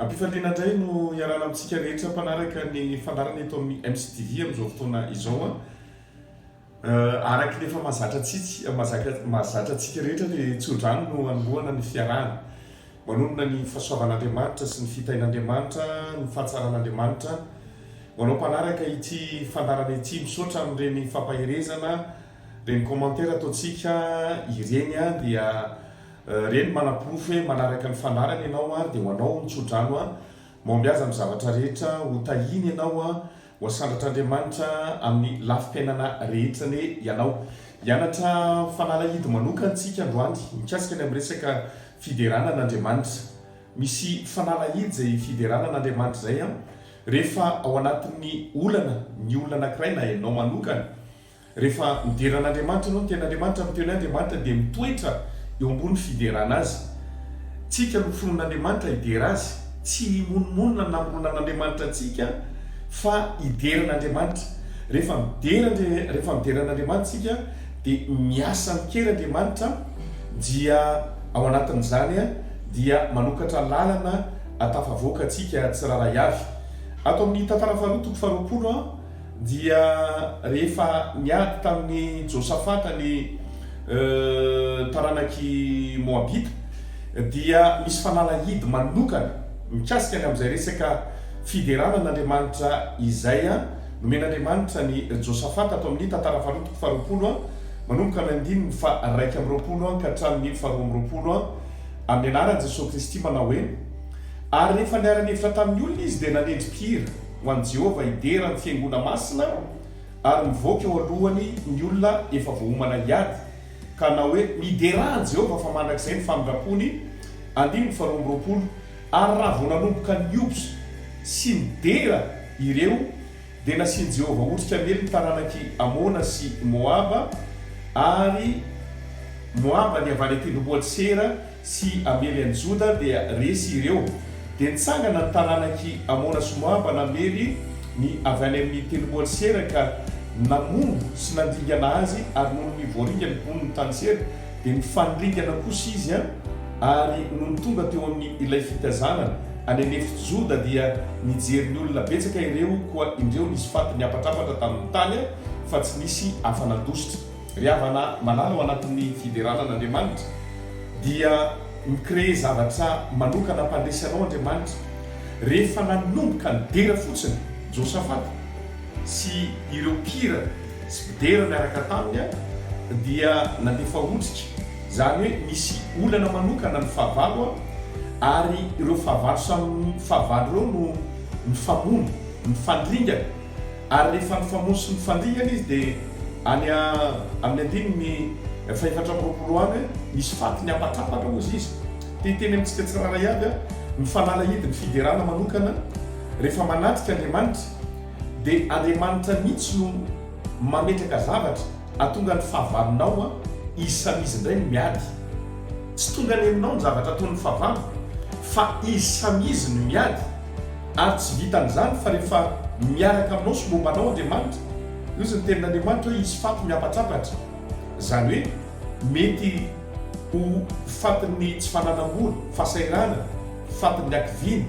Ampifaliana indray no hiarahana amintsika rehetra mpanaraka ny fandarana eto amin'ny MCTV amin'izao fotoana izao. Eh, araka ny efa mahazatra tsitsy eh, mahazatra antsika rehetra dia tsodrano no anombohana ny fiarahana. Manonona ny fahasoavan'Andriamanitra sy ny fitain'Andriamanitra, ny fahatsaran'Andriamanitra. Ho anao mpanaraka ity fandarana ity, misaotra amin'ireny fampaherezana, Ireny commentaire ataontsika ireny dia ireny manaporofo hoe manaraka ny fandaharana ianao ary dia ho anao ny tsodrano maomby azy amin'ny zavatra rehetra ho tahiny ianao ho asandratr'Andriamanitra amin'ny lafim-piainana rehetra anie ianao. Hianatra fanalahidy manokana isika androany mikasika ny amin'ny resaka fiderana an'Andriamanitra. Misy fanalahidy izay fiderana an'Andriamanitra izay rehefa ao anatin'ny olana ny olona anankiray na ianao manokana. Rehefa midera an'Andriamanitra ianao, miteny Andriamanitra, miteny hoe Andriamanitra dia mitoetra eo ambony fiderana Azy. Tsika no finoan'Andriamanitra hidera Azy. Tsy himonomonona ny namoronana an'Andriamanitra antsika fa hidera an'Andriamanitra. Rehefa midera rehefa midera an'Andriamanitra tsika dia miasa amin-kery Andriamanitra dia ao anatin'izany dia manokatra lalana atafavoaka antsika tsirarahy avy. Ato amin'ny Tantara faharoa toko faharoapolo. Dia rehefa niady tamin'i Josafata ny taranak'i Moabita, dia misy fanalahidy manokana mikasika ny amin'izay resaka fiderana an'Andriamanitra izay nomen'Andriamanitra an'i Josafata ato amin'ny Tantara Faharoa toko faharoapolo, manomboka amin'ny andininy faharaika amby roapolo ka hatramin'ny faharoa amby roapolo, amin'ny anaran'i Jesoa Kristy, manao hoe, Ary rehefa niara-nihevitra tamin'ny olona izy, dia nanendry mpihira. Ho an'i Jehovah hidera ny fiangonana masina ary mivoaka eo alohany ny olona efa voaomana hiady, ka na hoe miderà an'i Jehovah fa mandrakizay ny famindrampony, andininy faharoa amby roapolo, ary raha vao nanomboka niobs sy nidera ireo, dia nasian'i Jehovah otrika miely ny taranak'i Amona sy Moaba, ary Moaba dia avy any an-tendrombohitr'i Seira, sy hamely an'i Joda dia resy ireo. Dia nitsangana ny taranak'i Amona sy Moaba namely ny avy any amin'ny tendromboan'i Sera ka namono sy nandringana azy, ary nony ny voaringa ny boniny tany Sera dia nifanindringana kosa izy, ary nony tonga teo amin'ny ilay fitazanana any an'efitry Joda dia nijery ny olona betsaka ireo, koa indreo nisy faty niapatrapatra tamin'ny tany fa tsy nisy afa-nandositra. Ry havana malala ao anatin'ny fiderana an'Andriamanitra dia mi-créer zavatra manokana mpandresy anao Andriamanitra. Rehefa nanomboka nidera fotsiny Josafata sy ireo mpihira sy mpidera miaraka taminy dia nandefa otrika, izany hoe nisy olana manokana ny fahavalo ary ireo fahavalo samy fahavalo ireo no nifamono, nifandringana. Ary rehefa nifamono sy nifandingana izy dia any amin'ny andininy fahefatra amby roapolo any hoe nisy faty niampakapaka hozy izy. Te hiteny amintsika tsirairay aby aho, ny fanalahidy ny fiderana manokana rehefa manatrika Andriamanitra dia Andriamanitra mihitsy no mametraka zavatra atonga ny fahavalonao an, izy samy izy indray no miady. Tsy tonga any aminao ny zavatra ataon'ny fahavalo fa izy samy izy no miady. Ary tsy vitan'izany fa rehefa miaraka aminao sy momba anao Andriamanitra, hozy ny tenin'Andriamanitra hoe hisy faty mihampatsapatra. Izany hoe mety ho fatin'ny tsy fananam-bola, fahasahiranana, fatin'ny hakiviana,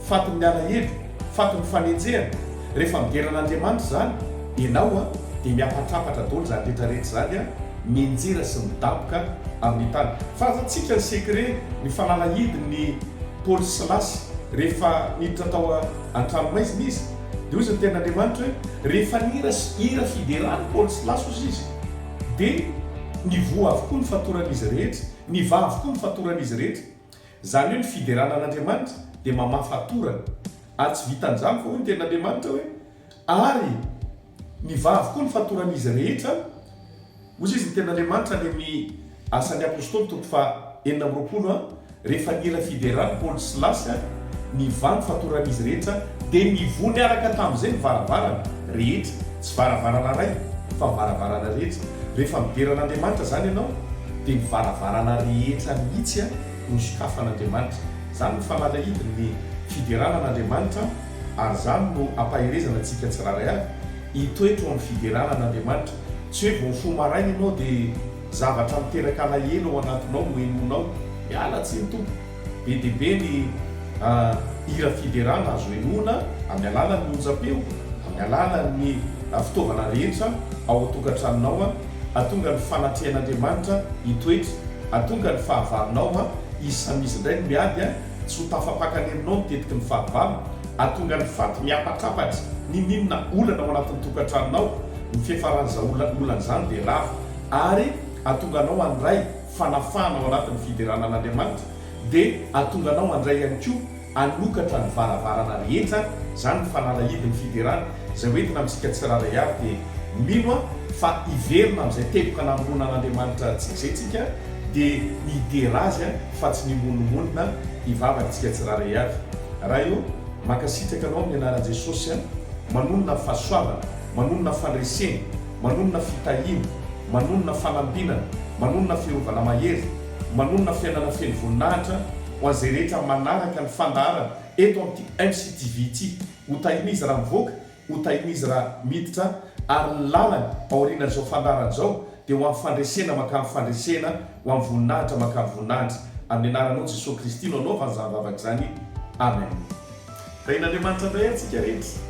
fatin'ny alahelo, fatin'ny fanenjehana. Rehefa midera an'Andriamanitra izany ianao dia mihampatsapatra daholo izany rehetra rehetra izany an, mienjera sy midaboka amin'ny tany. Fa aza tsika ny secret, ny fanalahidin'ny. Paoly Silasy rehefa niditra tao an-tranomaizina izy dia hoy izy ny tenin'Andriamanitra hoe rehefa nihira hira fiderana Paoly Silasy hozy izy dia nivoha avokoa ny fatoran'izy rehetra nivaha avokoa ny fatoran'izy rehetra izany hoe ny fiderana an'Andriamanitra dia mamaha fatorana ary tsy vitan'izany fa hoy ny tenin'Andriamanitra hoe ary nivaha avokoa ny fatoran'izy rehetra Hoy izy, Ny Tenin'Andriamanitra any amin'ny Asan'ny Apostoly toko faha enina amby roapolo an, Rehefa nila fiderana Paoly sy Silasy an, ny vano fatoran'izy rehetra, dia nivoha niaraka tamin'izay ny varavarana rehetra, tsy varavarana iray, fa ny varavarana rehetra. Rehefa midera an'Andriamanitra izany ianao, dia ny varavarana rehetra mihitsy an, no sokafan'Andriamanitra. Izany no fanalahidin'ny fiderana an'Andriamanitra an, ary izany no ampaherezana antsika tsirairay avy, hitoetra eo amin'ny fiderana an'Andriamanitra. Tsy hoe vao mifoha maraina ianao dia zavatra miteraka alahelo ao anatinao no henoinao. Miala tsiny tompoko. Be dia be ny hira fiderana azo henoina amin'ny alalan'ny onjam-peo, amin'ny alalan'ny fitaovana rehetra ao an-tokantranonao. Hahatonga ny fanatrehan'Andriamanitra hitoetra. Hahatonga ny fahavalonao hisamizy indray ny miady. Tsy ho tafapakan'eninao ny tetiky ny fahavalony, hahatonga ny faty mihapatrapatra n'inon'inona olana ao anatin'ny tokantranonao. Ny fiafaran'izao olana izany dia rava ary hahatonga anao handray fanafahana ao anatin'ny fiderana an'Andriamanitra, dia hahatonga anao handray ihany koa hanokatra ny varavarana rehetra, izany ny fanalahidin'ny fiderana. Izay hoentina amintsika tsirairay avy dia mino aho fa hiverina amin'izay teboka namonoana an'Andriamanitra antsika izay tsika dia hidera Azy fa tsy mimonomonona hivavaka antsika tsirairay avy. Ray ô, mankasitraka Anao amin'ny anaran'i Jesosy an, manonona fahasoavana, manonona fandresena, manonona fitahiana, manonona fanambinana, manonona fiarovana mahery, manonona fiainana feno voninahitra ho an'izay rehetra manaraka ny fandaharana eto amin'ity MCTV ity. Ho tahin'izy raha mivoaka, ho tahin'izy raha miditra, ary ny lalany aorianan'izao fandaharana izao dia ho amin'ny fandresena mankany fandresena, ho amin'ny voninahitra mankany voninahitra. Amin'ny anaranao Jesoa Kristy no anaovany izany vavaka izany. Amen. Tahin'Andriamanitra indray antsika rehetra.